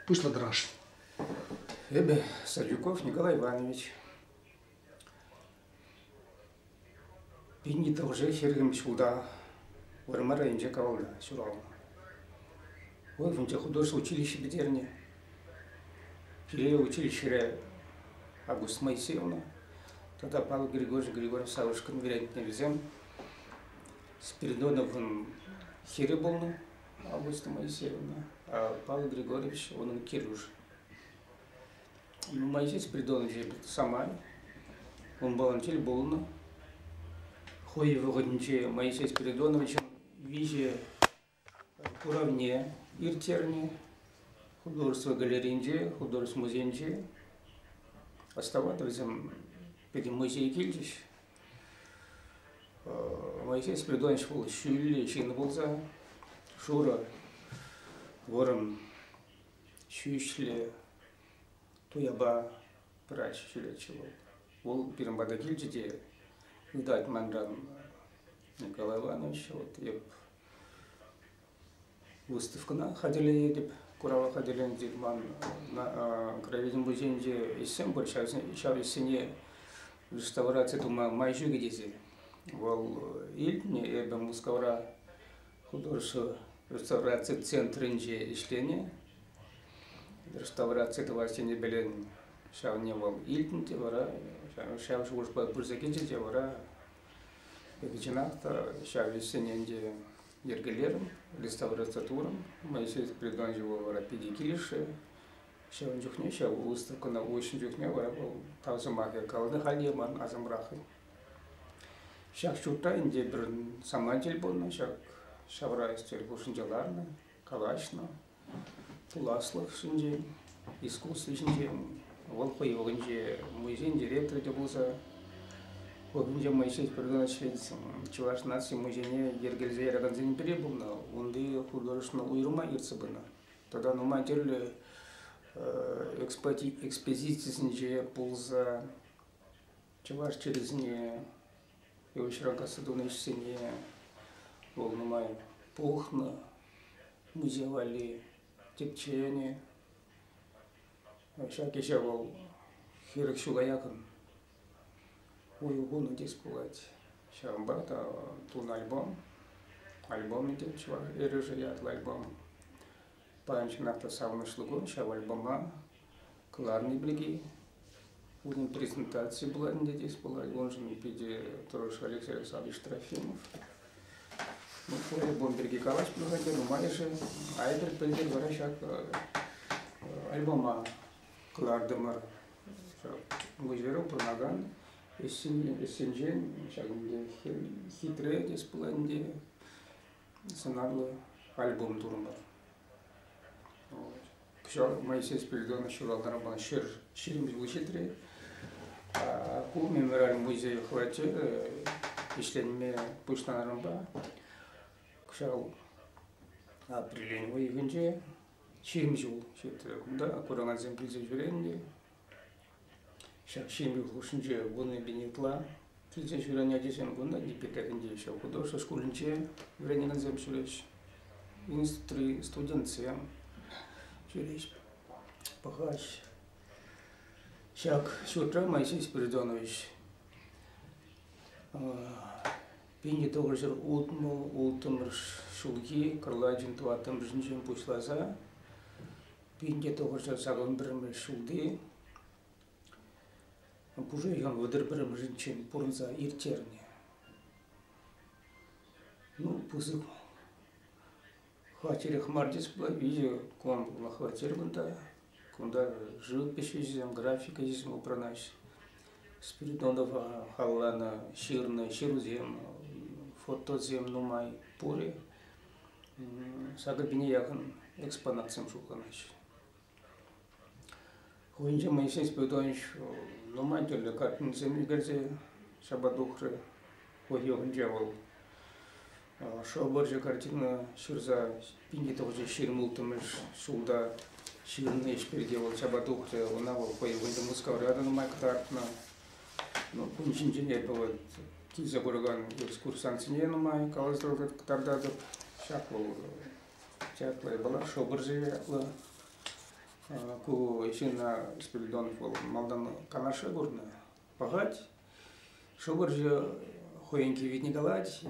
Пуҫла тӑраш. Эпӗ Садюков Николай Иванович. Пин иккӗмӗше хӗрӗм ҫулта Вӑрмар районӗнче каланӑ, ҫуралнӑ. Вӑл вӗнче художество училищи пӗтернӗ. Киле училищӗре Август Моисеевна тата Павел Григорьевич Григорьевич Савушкин вӗрентнӗ вӗсем. Спиридоновӑн хӗрӗ пулнӑ. Августа Моисеевна, пан Григорьевич, унӑн килӗш. Моисей Спиридонович самай, он волонтер пулнӑ. Хӑй вӑхӑтӗнче Моисей Спиридоновичӑн виҫе куравне ирттернӗ. Художество галерейинче, художество музейӗнче. Оставаться вӗсем пӗтӗм музей килчӗҫ. Моисей спиридонович вӑл ҫӳлле ҫыннӑ пулса шурӑ, вӑрӑм ҫӳҫлӗ туяпа пырать ҫӳлеччӗ вӑл. Вӑл пирӗн пата килчӗ те ытать манран Николай Иванович, вот эп Выставкӑна хатӗрлетӗп. Курава хатӗрленӗ ман гравитин пуҫӗнче ӗҫсем пур. Ҫав ӗҫсене реставраци тума май ҫукӗ тесе. Вӑл илтнӗ. Эпӗ Мускавра художество реставраци центрӗнче ӗҫленӗ. Реставраци тӑвас тенӗ ҫавне вӑл илтнӗ те вара ҫав шухӑшпа пырса килчӗ те вара чӑнах та ҫав ӗҫсене ӗнтӗ йӗркелерӗм, реставрация турӑм. Моисей Приганьевӑра питӗ килӗшрӗ. Ҫавӑн чухне, ҫав выставкӑна уҫнӑ чухне вара вӑл тав сӑмахӗ каланӑ, халӗ ман асӑмрах. Ҫак ҫуртра ӗнтӗ пӗр саманчӗл пулнӑ, ҫак ҫавра стель хушшинче ларнӑ, калаҫнӑ, пуласлӑх ҫинчен, искусство ҫинчен, вӑл хӑй вӑхӑтӗнче музейӗн директорӗ те пулса, вӑхӑтӗнче Моисей Перганович Чӑваш наци музейне йӗркелесе яракансен пӗри пулнӑ. Унти художественно уйрӑма ертсе пынӑ. Тата нумай тӗрлӗ экспозицисенче пулса чӑваш чӗрисене Ывӑҫра касса тунӑ ӗҫсене вӑл нумай пухнӑ. Миҫе валли тӗпченӗ. Ҫак ӗҫе вӑл хирӗх ҫула якӑн уйӑх хунӑ теес пулать. Ҫавӑнпа та тунӑ альбом. Альбомӗ те чӑваш эрешӗ ятлӑ альбом. Паян чӑнах та савӑнӑҫлӑ кун, ҫав альбома кӑларни пирки. Унӑн презентацийӗ пулать ӗнтӗ тес пулать. Уншӑн питӗ тӑрӑш Алексей Александрович Трофимов. Ну, альбом пирки калаҫма хатӗр, нумайӑшӗ айтӑр, пӗлтӗр вара ҫак альбома кӑлартӑмӑр. Гуҫверу пурӑнакан ӗҫсенчен ҫак хитре тес пулать ӗнтӗ. сӑнарлӑ альбом турӑмӑр. Кӑҫал Моисей Спиридонов ҫуралнӑ ҫӗр ҫирӗммӗш вуҫетре. Ку мемориаль музей хӑвачӗ ӗҫленме пуҫланӑрӑмпа кӑҫал апрель уйӑхӗнче ҫирӗммӗш ҫул ҫитрӗ. Кунта куракансем килсе ҫӳренӗ те Ҫак ҫемье хушшинче вуннипен ытла килсе ҫӳрен ачасем кунта Йӗпетекӗнче ҫав художество шкулӗнче вӗренекенсем ҫӳреҫҫӗ, институтри студентсем ҫӳреҫҫӗ, пӑхаҫҫӗ. Ҫак ҫуртра Моисей Спиридонович пинче тӑхӑрҫӗр ултмӑш ҫулхи кӑрлачӑн тӑваттӑмӗшӗнчен пуҫласа Пинте тухӑҫа саман пӗрремӗш ҫулти пушӑ йӑн вӑтӑр пӗрремӗшӗнчен пурӑнса ирттернӗ. Ну, пысӑк хваттерех мар тес пулать, виҫӗ квадрлӑ хваттер кунта. Кунта живопись ӗҫӗсем, графика ӗҫӗсем упранаҫҫӗ. Спиридонова халланӑ ҫырнӑ ҫырусем, фотосем нумай пурӗ. Сакӑр пине яхӑн экспонатсем шутланаҫҫӗ. Хӑйӗнче Моисей Спиридонович нумай тӗрлӗ картинӑсем ӳкерсе ҫапа тухрӗ. Ку йӑхӗнче вӑл шыв вӑрҫӑ картина ҫырса пинке тӑхӑрҫӗ ҫирӗм улттӑмӗш ҫулта ҫырнӑ ӗҫ пирки вӑл ҫапа тухрӗ. Ӑна вӑл хӑй ывӑлӗ Мускавра та нумай кӑтартнӑ. Кун ҫинчен эпӗ килсе куракан экскурсантсене нумай каласа кӑтартатӑп. Ҫак вӑл Чаплӑ япала, Шӑпӑршӑ ятлӑ. Ку ҫынна Спиридонов вӑл малтан Канаша курнӑ. Пӑхать, Шӑпӑршӑ хӑйӗнки витни калать,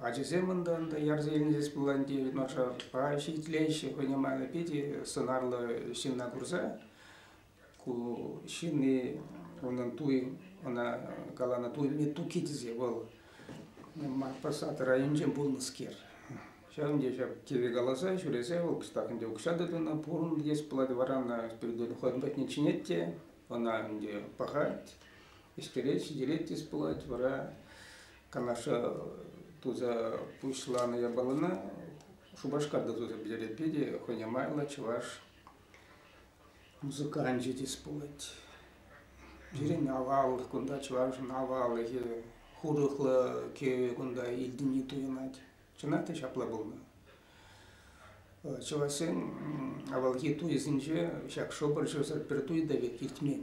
ачасем унта ӑнта ярса илнӗ пулан тейӗн, ӑша ҫитлеҫҫӗ хӑйне майлӑ питӗ сӑнарлӑ ҫынна курса. ку ҫынни унӑн туй ӑна каланӑ туйне туки тесе вӑл Мартпасад районӗнче пулнӑскер. Ҫавӑн те ҫав теве каласа ҫӳресе вӑл кӑштах ӗнтӗ укҫа тытӑннӑ пурӑн теес пулать вара ӑна спиритуальный хӑйӗн патне чӗнет те ӑна ӗнтӗ пӑхать, ӳстерет, ҫитерет теес пулать вара канаша туса пуҫланӑ япалана Шупашкарта туса пӗтерет Пете хӑйне майлӑ чӑваш Музыканчӗ те спорт. Пирӗн авал кунта чӑвашӑн аваллӑхӗ, хурӑхлӑ кӗвӗ кунта илтӗнни туйӑнать. Чӑнах та ҫапла пулнӑ. Чӑвашсен авалхи туйӗсенче ҫак шӑпӑрчӑсӑр пӗр туй та пек иртмен.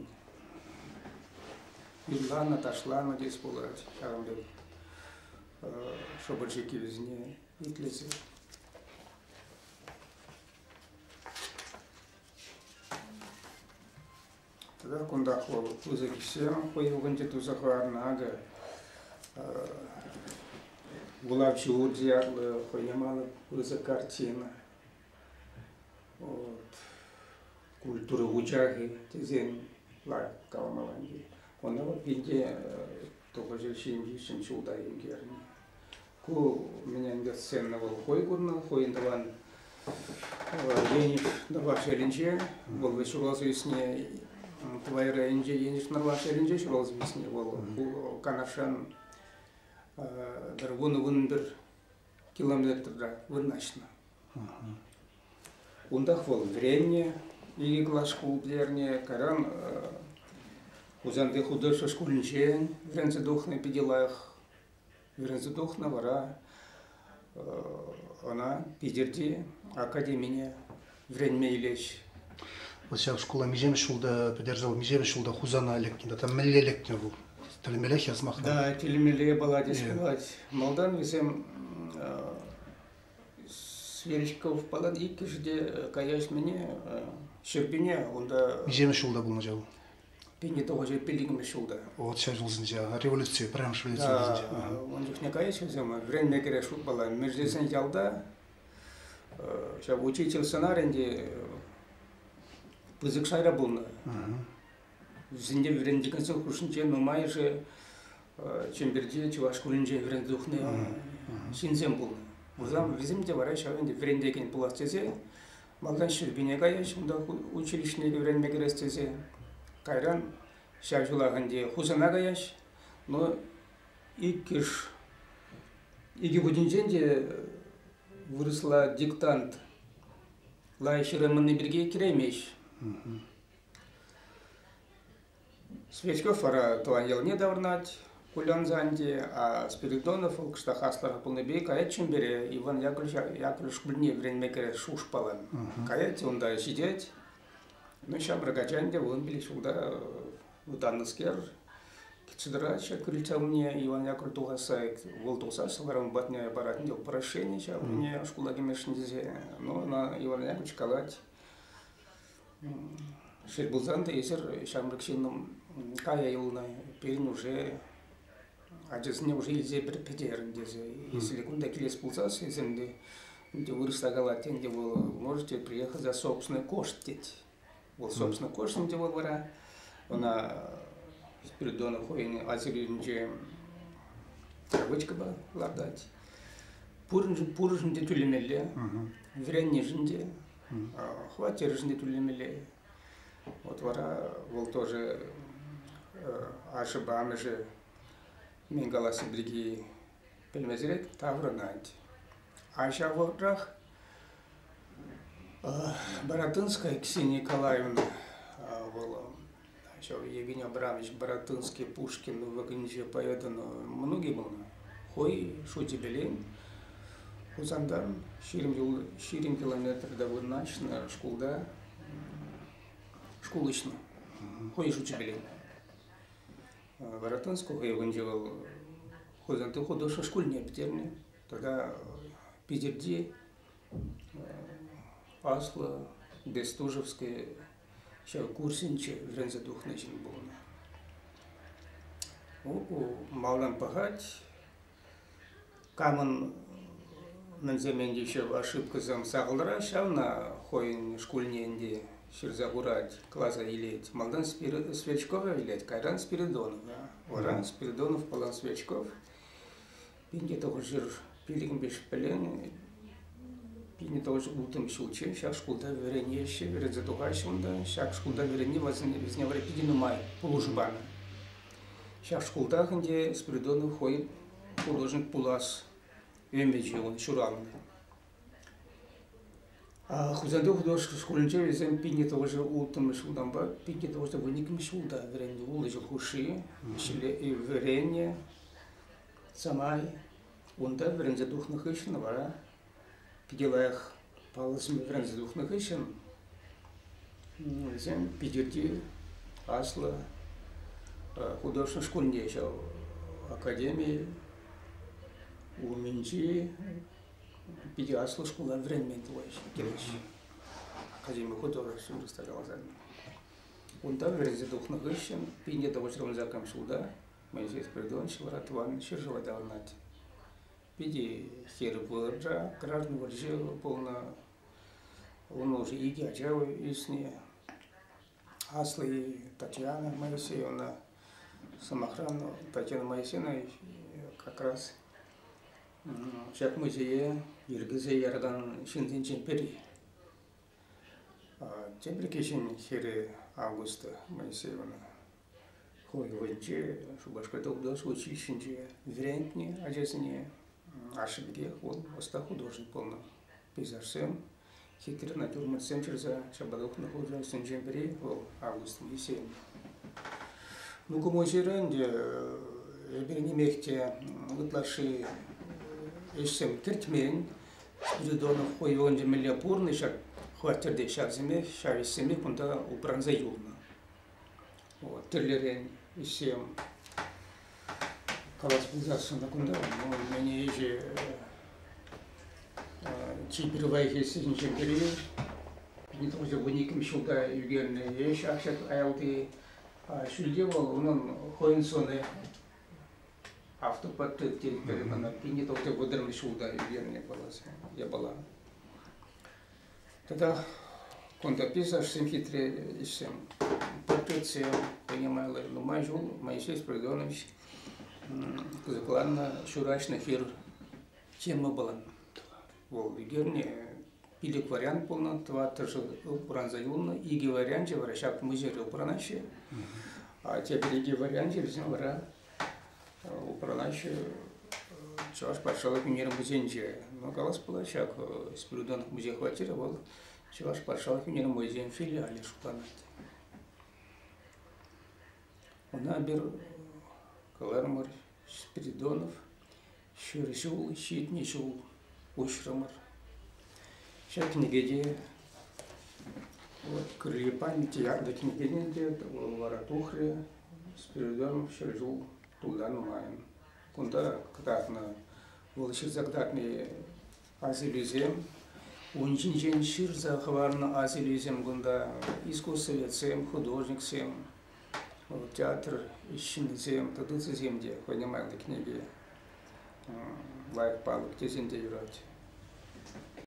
Юрланӑ, ташланӑ тес пулать ҫавӑн пек шӑпӑрчӑ кӗвӗсене итлесе. Тата кунтах вӑл пысӑк ӗҫсем хӑйӑлкӑнче туса хӑварнӑ. Акӑ Гулав Чуурди ятлӑ хӑй яманӑ пысӑк картина. Вот. Культура учахи тесен лайк калмаланги. Оны вот пинде тухӑҫы ҫинчи ҫын ҫулта ӳкерни. Ку мене ӗнтӗ сцена вӑл хӑй курнӑ, хӑйӗн тӑван Енӗш Нӑрваш ялӗнче, вӑл ҫуралса ӳсни Пӑлай районӗнче Енӗш Нӑрваш ялӗнче ҫуралса ӳсни вӑл. Ку Канашран пӗр вунӑ-вун пӗр километрта вырнаҫнӑ. Унтах вӑл вӗреннӗ, икӗ класс шкул пӗтернӗ, кайран Хусанти художество шкулӗнче вӗренсе тухнӑ питӗ лайӑх Вӗренсе тухнӑ вара ӑна Питӗрти академине вӗренме илеҫҫӗ. Вӑл ҫак шкула миҫемӗш ҫулта пӗтерсе миҫемӗш ҫулта Хусана лекнӗ тата мӗнле лекнӗ вӑл? Тӗлмелех ясмахна? Да, тӗлмеле палать тесе э. пулать. Малтан вӗсем Сверичков палат иккӗшӗ те каяҫ мӗне Ҫӗрпӳне унта. Миҫемӗш ҫулта пулнӑ ҫав? Пинне тухӑҫӗ пиллӗкмӗш ҫулта. Вот ҫав ҫулсенче, революци, пӗрремӗш революци ҫулсенче. Ун чухне кайӗҫ вӗсем, вӗренме кӗрес шутпала. Мӗрсесен ялта ҫав учитель сӑнарӗнче пысӑк шайра пулнӑ. Вӗсенче вӗрентекенсен хушшинче нумайӑшӗ Чӗмпӗрти чӑваш шкулӗнче вӗренсе тухнӑ ҫынсем пулнӑ. Вӗсем те вара ҫав ӗнтӗ вӗрентекен пулас тесе Малтан Ҫӗрпӳне каяҫ, унта училищӗне вӗренме кӗрес тесе. Кайран ҫав ҫулах ӗнтӗ Хусана каяҫ. Но иккӗш, икӗ хутӗнчен те вырӑсла диктант лайӑх ҫырайманни пирки кӗреймест. Сверчков вара тӑван ялне таврӑнать, кулянса ӗнтӗ. А Спиридонов вӑл кӑштах аслӑрах пулнипе каять Чӗмпӗре, Иван Яковлевич кӳлне вӗренме кӗрет шухӑшпалан. Каять, унта ҫитет. Ну, ҫамрӑк ача ӗнтӗ вунпилӗк ҫулта вӑтаннӑскер, кӗтсе тӑраҫҫӗ крыльца умне Иван Яковлев тухасса, вӑл тухса сӑвӑран патне парать ӗнтӗ прощение ҫав умне шкула кӗмешкӗн тесе. Ну, ӑна Иван Яковлевич калать, Шел пулсан та, эсир ҫамрӑк ҫыннӑм кая юлнӑ. Пирӗн уже ачасене уже илсе пӗтерӗн тесе. Если кунта килес пулсассисем те ӗнтӗ вырӑсла калать, ӗнтӗ вӑл можете приехать за собственный кошт тет. Вӑл собственный кошт ӗнтӗ вӑл вара ӑна Спиридонов хӑйӗн асилӳӗнче травочкӑпа лартать. Пуриншӗн пуриншӗн те тӳлемелле, вӗреннишӗн те, Хваттершӗн те тӳлемелле. Вот вара вӑл тоже ашшӗпе амӑшӗ мӗн каласси пирки пӗлмесӗрех таврӑнать. Ачавӑрах Бородынская Ксения Николаевна вӑл Ҫав Евгений Абрамович Баратынский Пушкин вӑкӑнче поэтӑн мӑнукӗ пулнӑ. Хӑй Шутепелен Хусантан ҫирӗм, юл, ҫирӗм километрта вырнаҫнӑ шкулта шкул уҫнӑ. Хӑй Шучӗпелен. Баратынского Евгеньевиче вӑл Хусанти художество шкулне пӗтернӗ. Тата Питӗрти Аслӑ Бестужевское ҫав курсӗнче вӗренсе тухнӑ ҫын пулнӑ. Малтан пӑхать, камӑн мӗнсемен те ошибкӑсем сахалра, ҫавна хӑйӗн шкулне ӗнтӗ ҫырса хурать, класа илет. Малтан Сверчкова илет, кайран Спиридонова. Вара Спиридонов пулан Сверчков. Пинте тӑхӑрҫӗр пилӗкӗмпе шкулленӗ. Пинте тӑхӑрҫӗр улттӑмӗш ҫулчче ҫак шкулта вӗренеҫҫӗ, вӗренсе тухаҫҫӗ унта. Ҫак шкулта вӗренни вӗсене вӗсене вара питӗ нумай пулӑшу панӑ. Ҫак шкултах ӗнтӗ Спиридонов хӑйӗн пурнӑҫӗн пулас ӗмӗчӗ ҫуралнӑ. Хусанти художество шкулӗнче вӗсем пинне тӑвӑшӗ улттӑмӗш ҫултанпа пинне тӑвӑшӗ вун иккӗмӗш ҫулта вӗреннӗ улӑҫӑ хушши ӗҫле вӗреннӗ. самай унта вӗренсе тухнӑ хыҫҫӑн вара питӗ лайӑх паллӑ сӗме вӗренсе тухнӑ хыҫҫӑн вӗсем Питӗрти аслӑ художество шкулне ҫав академи умӗнчи питӗ аслӑ шкула вӗренмен терӗҫ академи художествин рестораторне. Унта вӗренсе тухнӑ хыҫҫӑн пине тӑвӑҫрӑм закам ҫулта Моисей Спиридонович вара тӑван ҫӗршыва таврӑнать. Питӗ хирӗҫ вырӑнра, Граждан вӑрҫи пулнӑ. Ун уже икӗ ача ӳснӗ. Асли Татьяна Моисеевна, сӑмахран, Татьяна Моисеевна как раз ҫак музее йӗркесе яракан ҫынсенчен пӗри. Тепӗр кӗҫӗн хӗрӗ Августа Моисеевна. Хӑвӑн вӑйӗнче Шупашкарта утас училищинче вӗрентнӗ ачасене ашшӗ пекех вӑл ӑста художник пулнӑ. Пейзажсем, хитре натюрмортсем ҫырса ҫапа тухнӑ художниксенчен пӗри вӑл Август Моисеев. Ну, кӑмӑл-ҫырӑ ӗнтӗ эпир нимех те ытлашши ӗҫсем кӗртмен. Спиридонов хӑй ывӑлӗнче мӗнле пурӑннӑ ҫак хваттерте ҫавсемех, ҫав ӗҫсемех кунта упранса юлнӑ. Вот, тӗллӗрен ӗҫсем калас пулсассӑн кунта ну, мені ӗҫе чи пирвайхи сӗнчен пӗри 1912 ҫулта ӳкернӗ ӗҫ акчет аялти ҫӳлте вӑл унӑн хӑйӗн сӑнӗ автоподтык тетпӗр ӑна 1900 ҫулта ӳкернӗ пулас япала. Тата кунта пейзажсем хитре ӗҫсем. Портретсем принимали нумай ҫул Моисей Спиридонович кӑсӑкланнӑ ҫураҫнӑ хир тема пулан. Вӑл ӳкерне пилӗк вариант пулнӑ, тӑваттӑшӗ упранса юлнӑ. Икӗ варианчӗ вара ҫак музейре упранаҫҫӗ. А тепӗр икӗ варианчӗ вӗсем вара Упранаҫҫӗ Чӑваш патшалӑх ӳнер-музейӗнче. Ну, калас пулать ҫак, Спиридонов музей хваттерӗ вӑл Чӑваш патшалӑх ӳнер-музейӗн филиалӗ шутланать. Ӑна эпир кӑлармӑр Спиридонов Ҫӗр ҫул, ҫитнӗ ҫул уҫрӑмӑр. Ҫак кӗнекене вот кӗрхи памяти янкӑ кӗнекене те вара тухрӗ с периодом ҫӗр ҫул тулдан майӑн. Кунта кӑтартнӑ, вӑл ҫырса кӑтартни Асилӳсем, ун ҫинчен ҫырса хӑварнӑ асилӳсем кунта искусствоведсем, художниксем, театр ҫыннисем, продукцисем те хӑйне кӗнеке, лайӑх палӑк тесен те юрать.